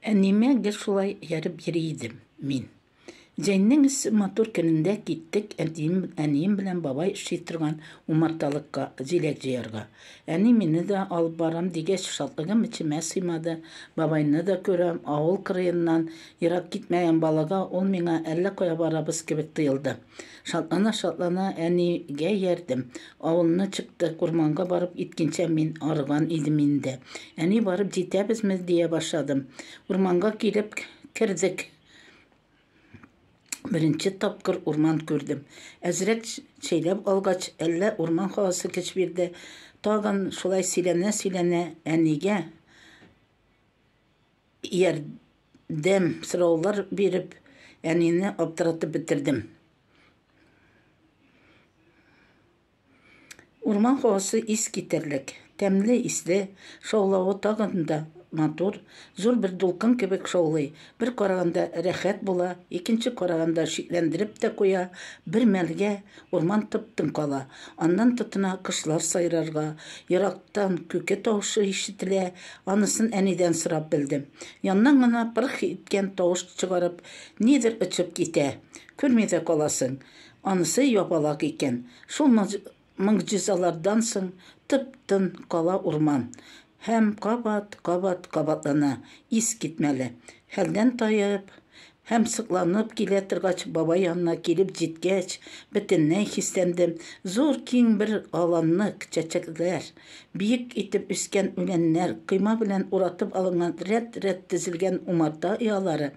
Әниемә гел шулай ярып йөри идем мин. Җәйнең эссе матур көнендә киттек әтием, әнием белән бабай эшли торган умарталыкка җиләк җыярга. Әни мине дә алып барам дигәч, шатлыгым эчемә сыймады. Бабайны да күрәм, авыл кырыеннан ерак китмәгән балага ул миңа әллә кая барабыз кебек тоелды. Шатлана-шатлана әнигә иярдем. Авылны чыктык, урманга барып иткенчә мин арыган идем инде. Әни барып җитәбезме дия башладым. Урманга килеп кердек. Беренче тапкыр урман күрдем. Әзрәк чәйләп алгач, әллә урман һавасы көч бирде, тагын шулай сөйләнә-сөйләнә әнигә ярдәм сораулар биреп, әнине аптыратып бетердем. Урман һавасы ис китәрлек, тәмле исле, шаулавы тагын да матур, зур бер дулкын кебек шаулый. Бер караганда рәхәт була, икенче караганда шикләндереп тә куя. Бер мәлгә Урман тып-тын кала. Аннан тотына кошлар сайрарга. Ерактан күке тавышы ишетелә. Анысын әнидән сорап белдем. Яннан гына пырх иткән тавыш чыгарып, нидер очып китә. Күрми дә каласың. Анысы ябалак икән. Шул могҗизалардан соң тып-тын кала урман. Һәм кабат, кабат кабатлана, искитмәле. Хәлдән таеп һәм сокланып килә торгач, бабай янына килеп җиткәч, бөтенләй хисләндем. Зур киң бер аланны чәчәкләр, биек итеп үскән үләннәр, койма белән уратып алынган рәт-рәт тезелгән умарта оялары,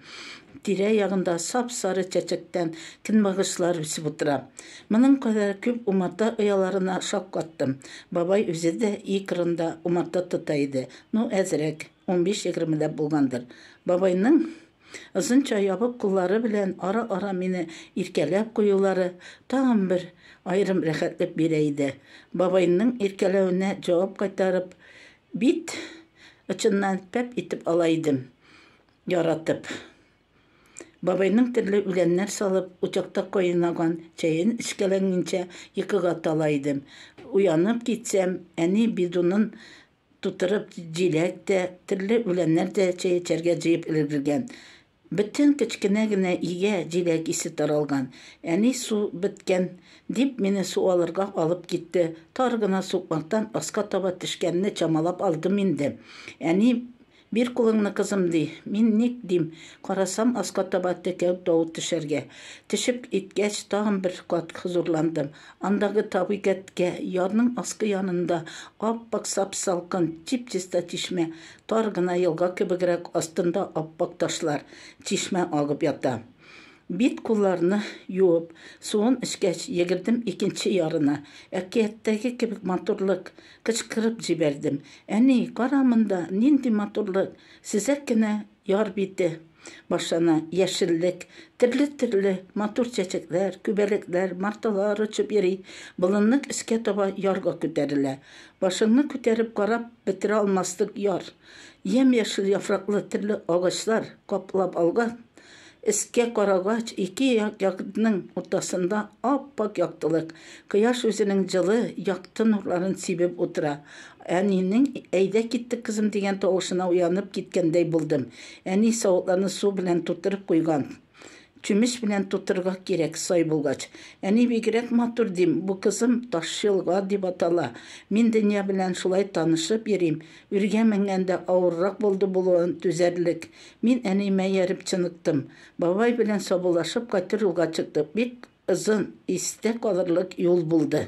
тирә-ягында сап-сары чәчәктән көнбагышлар үсеп утыра. Моның кадәр күп умарта ояларына шаккаттым. Бабай үзе дә өй кырында умарта тота иде. Ну, әзрәк, унбиш-егермеләп булгандыр. Бабайның озынча ябык куллары белән ара-ара мине иркәләп куюлары тагын бер аерым рәхәтлек бирә иде. Бабайның иркәләвенә җавап кайтарып, бит очыннан пәп итеп ала идем, яратып. Бабайның төрле үләннәр салып, учакта кайнаган чәен эчкәләнгенчә йокыга тала идем. Уянып китсәм, әни бидонын тутырып җиләк тә, төрле үләннәр дә чәй эчәргә җыеп өлгергән. Бөтен кечкенә генә өйгә җиләк исе таралган. Әни су беткән, дип, мине су алырга алып китте. Тар гына сукмактан аска таба төшкәнне чамалап алдым инде. Әни Бир кулыңны, кызым, ди. Мин ник, дим, карасам, аска таба текәү тавы төшәргә. Тешеп иткәч, тагын бер кат хозурландым. Андагы тавы кәткә, ярның аскы янында ап-ак сап-салкын, чип-чиста чишмә, тар гына елга кебегрәк, астында ап-ак ташлар, чишмә агып ята. Бит-кулларны юып, суын эчкәч, йөгердем икенче ярына. Әкияттәге кебек матурлык, Кычкырып җибәрдем. Әни, кара монда, нинди матурлык! Сөзәк кенә яр бите башлана, яшеллек, төрле-төрле матур чәчәкләр, күбәләкләр, марталар очып йөри, болынның өскә таба ярга күтәрелә. Башыңны күтәреп карап бетерә алмаслык яр. Ямь-яшел яфраклы төрле агачлар каплап алган. Өскә карагач, ике як ягдның уртасында ап-ак яктылык. Кояш үзенең җылы, якты нурларын сибеп утыра. Әнинең Әйдә киттек, кызым, дигән тавышына уянып киткәндәй булдым. Әни савытларны су белән тутырып куйган. Чүмеч белән тутырырга кирәк, сай булгач. Әни бигрәк матур, дим, бу, кызым, Ташъелга дип атала. Мин дөнья белән шулай танышып йөрим. Үргә менгәндә авыррак булды булуын түзәрлек. Мин әниемә ияреп чыныктым. Бабай белән саубуллашып кайтыр юлга чыктык. Бик озын, истә калырлык юл булды.